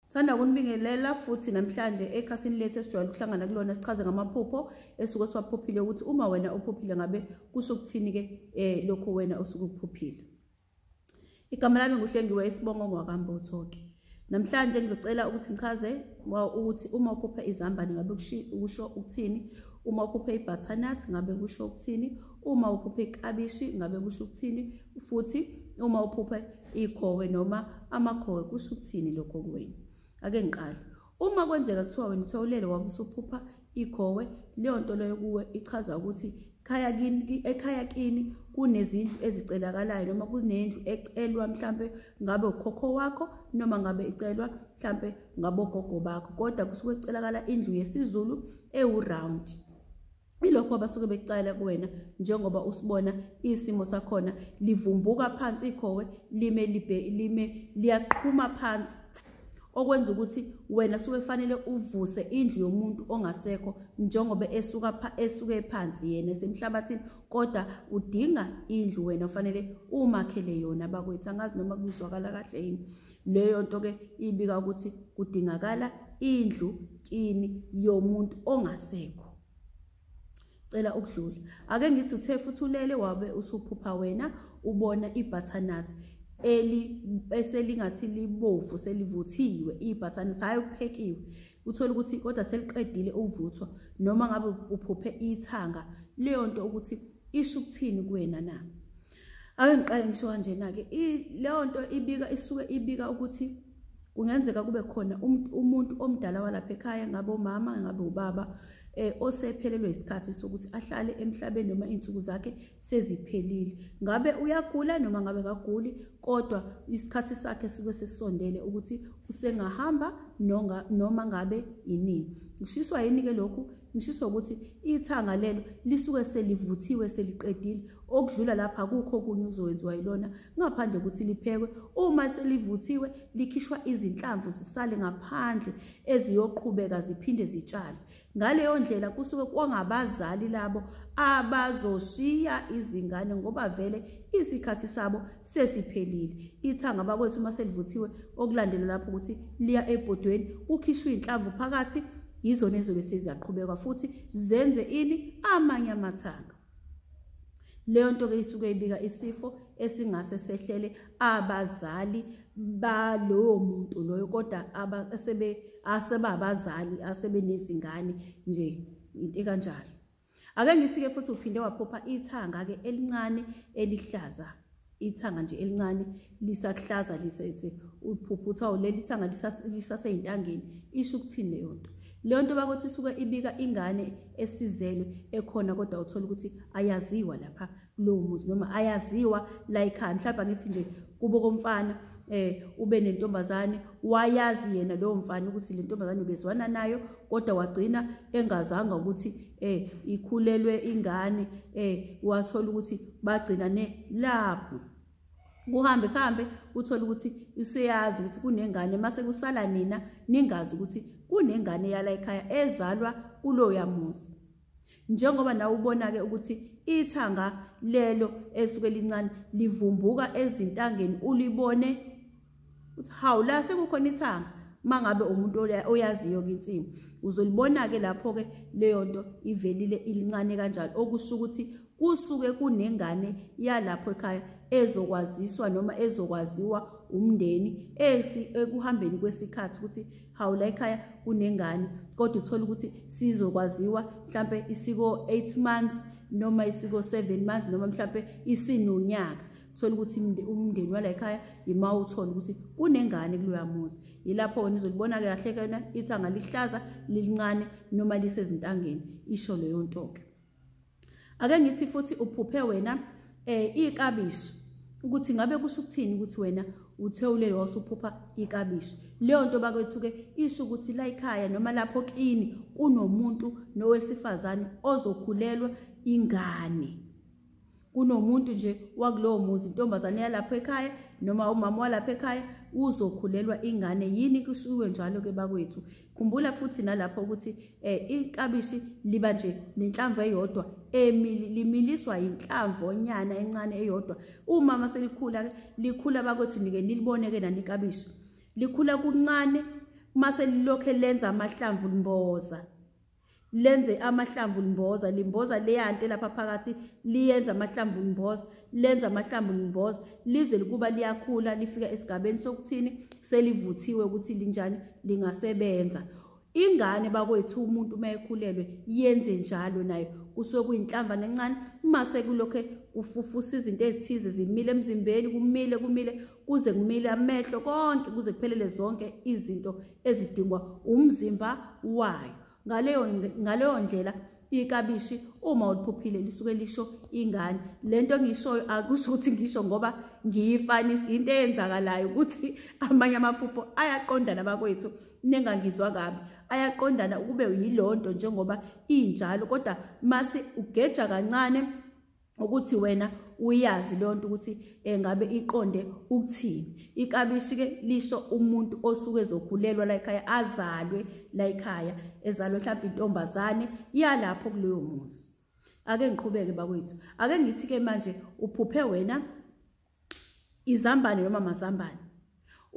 Sithanda ukunibingelela futhi namhlanje ekhasini lethu esijwayele ukuhlangana kulona sichaze ngamaphupho esuke siwaphuphile ukuthi uma wena uphuphile ngabe kusho ukuthini-ke um lokho wena osuke ukuphuphile igama lami nguhlengiwe isibongo ngwakambotho-ke namhlanje ngizocela ukuthi ngichaze ukuthi uma uphuphe izambane ngabe kusho ukuthini uma uphuphe i-butternut ngabe kusho ukuthini uma uphuphe ikabishi ngabe kusho ukuthini futhi uma uphuphe ikhowe noma amakhowe kusho ukuthini lokho kuwena ake ngiqale uma kwenzeka kuthiwa wena uthawulele wabe usuphupha ikhowe leyo nto leyo kuwe ichaza ukuthi khaya kini ekhaya kini kunezindlu ezicelakalayo noma kunendlu ecelwa mhlampe ngabe ukhokho wakho noma ngabe icelwa mhlampe ngabogogo bakho kodwa kusuke kucelakala indlu yesiZulu ewu round ilokho abasuke bekucayela kuwena njengoba usibona isimo sakhona livumbuka phansi ikhowe lime libe lime liyaqhuma phansi okwenza ukuthi wena suke kufanele uvuse indlu yomuntu ongasekho njengoba esuka pha esuke phansi yena esemhlabathini kodwa udinga indlu wena ufanele umakhele yona bakwethu angazi noma kuzwakala kahle yini Leyo nto ke ibika ukuthi kudingakala indlu kini yomuntu ongasekho. Cela ukudlula. Ake ngithi uthe futhi ulele wabe usuphupha wena ubona ibutternut eli eselingathi libovu selivuthiwe ibutternut hayi uphekiwe. Uthola ukuthi kodwa seliqedile ukuvuthwa noma ngabe uphuphe ithanga leyo nto ukuthi isho ukuthini kuwena na. ake ngiqale ngisho kanjena-ke leyo nto ibika isuke ibika ukuthi kungenzeka kube khona um, umuntu omdala walapha ekhaya ngabe umama ngabe ubaba eh osephelelwe isikhathi sokuthi ahlale emhlabeni noma izinsuku zakhe seziphelile ngabe uyagula noma ngabe kaguli kodwa isikhathi sakhe sike sesondele ukuthi usengahamba noma ngabe yinini ushiswa yini ke lokhu ngishiso ukuthi ithanga lelo lisuke selivuthiwe seliqedile okudlula lapha kukho kunye okuzowenziwa yilona ngaphandle ukuthi liphekwe uma selivuthiwe likhishwa izinhlamvu zisale ngaphandle eziyoqhubeka ziphinde zitshale ngaleyo ndlela kusuke kwangabazali labo abazoshiya izingane ngoba vele isikhathi sabo sesiphelile ithanga bakwethu uma selivuthiwe okulandela lapho ukuthi liya ebhodweni kukhishwa iy'nhlamvu phakathi yizona ezobe seziyaqhubekwa futhi zenze ini amanye amathanga leyo nto ke isuke ibika isifo esingase sehlele abazali balowo muntu loyo kodwa asebabazali asebenezingane nje into ekanjalo ake ngithi-ke futhi uphinde waphupha ithanga-ke elincane elihlaza ithanga nje elincane lisakuhlaza lisese uphupha kuthiwa uleli thanga lisaseyintangeni isho ukuthini leyo nto leyo nto bakuthi isuke ibika ingane esizelwe ekhona kodwa uthola ukuthi ayaziwa lapha kulowo muzi noma ayaziwa la ekhaya mhlawumbe angithi nje kubo komfana eh ube nentombazane wayazi yena lowo mfana ukuthi le ntombazane ubezwana nayo kodwa wagcina engazanga ukuthi eh ikhulelwe ingane eh wathola ukuthi bagcina ne lapho kuhambe kuhambe uthole ukuthi useyazi ukuthi kunengane mase kusala nina ningazi ukuthi kunengane yala ekhaya ezalwa kuloya muzi njengoba nawe ubona-ke ukuthi ithanga lelo esuke lincane livumbuka ezintangeni ulibone uthi hawu la sekukhona ithanga uma ngabe umuntu oyaziyo-ke insimu uzolibona-ke lapho-ke leyo nto ivelile ilincane kanjalo okusho ukuthi kusuke kunengane yalapho ekhaya ezokwaziswa noma ezokwaziwa umndeni ekuhambeni kwesikhathi ukuthi hawu la ekhaya kunengane kodwa uthole ukuthi sizokwaziwa mhlampe isiko 8 months noma isiko 7 months noma mhlampe isinonyaka thola ukuthi umndeni wala ekhaya yima uthole ukuthi kunengane kuloya muzi yilapho wena uzolibona-ke kahle kena ithanga lihlaza lilincane noma lisezintangeni isho leyo nto-ke ake ngithi futhi uphuphe wena eh ikabishi ukuthi ngabe kusho ukuthini ukuthi wena uthe ulele wasuphupha ikabishi leyo nto bakwethu ke isho ukuthi la ekhaya noma lapho kini kunomuntu nowesifazane ozokhulelwa ingane kunomuntu nje wakulowo muzi intombazane yalapho ekhaya noma umama walapha ekhaya uzokhulelwa ingane yini kushiwe njalo ke bakwethu Khumbula futhi nalapho ukuthi eh ikabishi liba nje nenhlamvu eyodwa limiliswa inhlamvu onyana encane eyodwa uma maselikhula likhula bakwethu nike niliboneke nani ikabishi likhula kuncane mase lilokhe lenza amahlamvu limboza lenze amahlamvu limboza limboza leyanto lapha phakathi liyenza amahlamvu limboza lenza amahlamvu limboza lize likuba liyakhula lifika esigabeni sokuthini selivuthiwe ukuthi linjani lingasebenza ingane bakwethu umuntu uma ekhulelwe yenze njalo nayo kusuke kuyinhlamba nencane uma sekulokhe kufufusa izinto ezithize zimile emzimbeni kumile kumile kuze kumile amehlo konke kuze kuphelele zonke izinto ezidingwa umzimba wayo ngaleyo ngaleyo ndlela ikabishi uma uliphuphile lisuke lisho ingane lento engishoyo akusho ukuthi ngisho ngoba ngiyifanisa into eyenzakalayo ukuthi amanye amaphupho ayaqondana bakwethu nengangizwa kabi ayaqondana ukube yilonto njengoba injalo kodwa mase ugeja kancane ukuthi wena uyazi leyo nto ukuthi engabe eh, iqonde ukuthini ikabishi ke lisho umuntu osuke ezokhulelwa la ekhaya azalwe la ekhaya ezalwe mhlawumbe intombazane yalapho kuleyo muzi ake ngiqhubeke bakwethu ake ngithi ke manje uphuphe wena izambane noma mazambane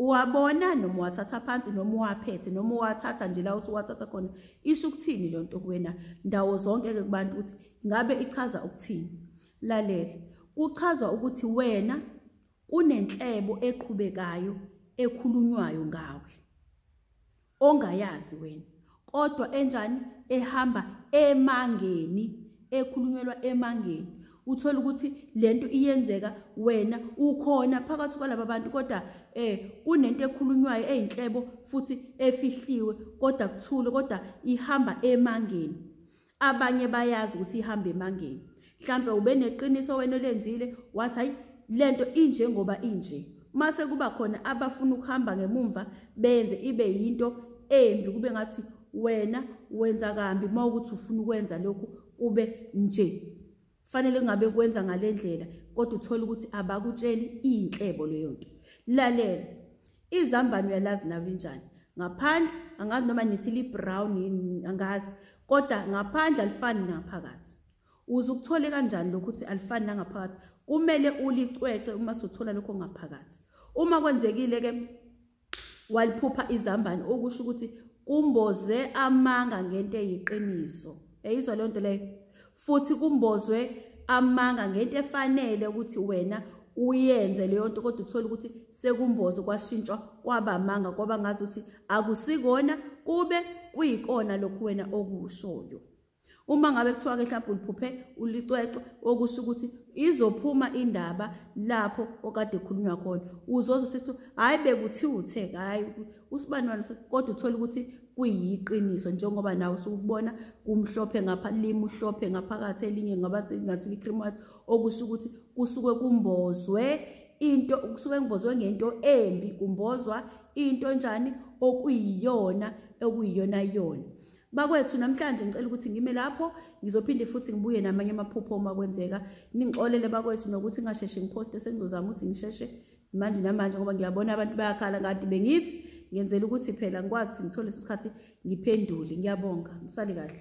uwabona noma uwathatha phansi noma uwaphethe noma uwathatha nje la uthi uwathatha khona isho ukuthini le nto kuwena ndawo zonke-ke kubantu ukuthi ngabe ichaza ukuthini lalela kuchazwa ukuthi wena kunenhlebo eqhubekayo ekhulunywayo ngawe ongayazi wena kodwa enjani ehamba emangeni ekhulunyelwa emangeni uthola ukuthi lento iyenzeka wena ukhona phakathi kwalaba bantu kodwa eh kunento ekhulunywayo ezinhlebo futhi efihliwe kodwa kuthule kodwa ihamba emangeni abanye bayazi ukuthi ihamba emangeni mhlampe ube neqiniso wena olenzile wathi hayi lento inje ngoba inje mase kuba khona abafuna ukuhamba ngemumva benze ibe yinto embi kube ngathi wena wenza kambi uma ukuthi ufuna ukwenza lokhu kube nje fanele kungabe kwenza ngale ndlela kodwa uthole ukuthi abakutsheli iyinhlebo leyo nto lalela izambane uyalazi nawe linjani ngaphandle angazi noma nithi librown yini angazi kodwa ngaphandle alifani nangaphakathi uze ukuthole kanjani lokhu ukuthi alifani nangaphakathi kumele ulicwece uma sothola lokho ngaphakathi uma kwenzekile-ke waliphupha izambane okusho ukuthi kumboze amanga ngento eyiqiniso yayizwa leyo nto leyo futhi kumbozwe amanga ngento efanele ukuthi wena uyenze leyo nto kodwa uthole ukuthi sekumboze kwashintshwa kwaba amanga kwaba ngazi ukuthi akusikona kube kuyikona lokhu wena okushoyo uma ngabe kuthiwa-ke mhlawumbe uliphuphe ulicwecwe okusho ukuthi izophuma indaba lapho okade khulunywa khona uzoze usethi hhayi bekuthiwa uthe hhayi usibani wani kodwa uthole ukuthi kuyiqiniso njengoba nawe usukubona kumhlophe ngapha limuhlophe ngaphakathi elinye ngabathi ngathi li-cream white okusho ukuthi kusuke kumbozwe into kusuke kumbozwe ngento embi kumbozwa into enjani okuyiyona okuyiyona yona bakwethu namhlanje ngicela ukuthi ngime lapho ngizophinde futhi ngibuye namanye amaphupho uma kwenzeka ningixolele bakwethu nokuthi ngingasheshe ngiphoste sengizozama ukuthi ngisheshe manje namanje ngoba ngiyabona abantu bayakhala kade bengithi ngenzela ukuthi phela ngikwazi ngithole leso sikhathi ngiphendule ngiyabonga ngisale kahle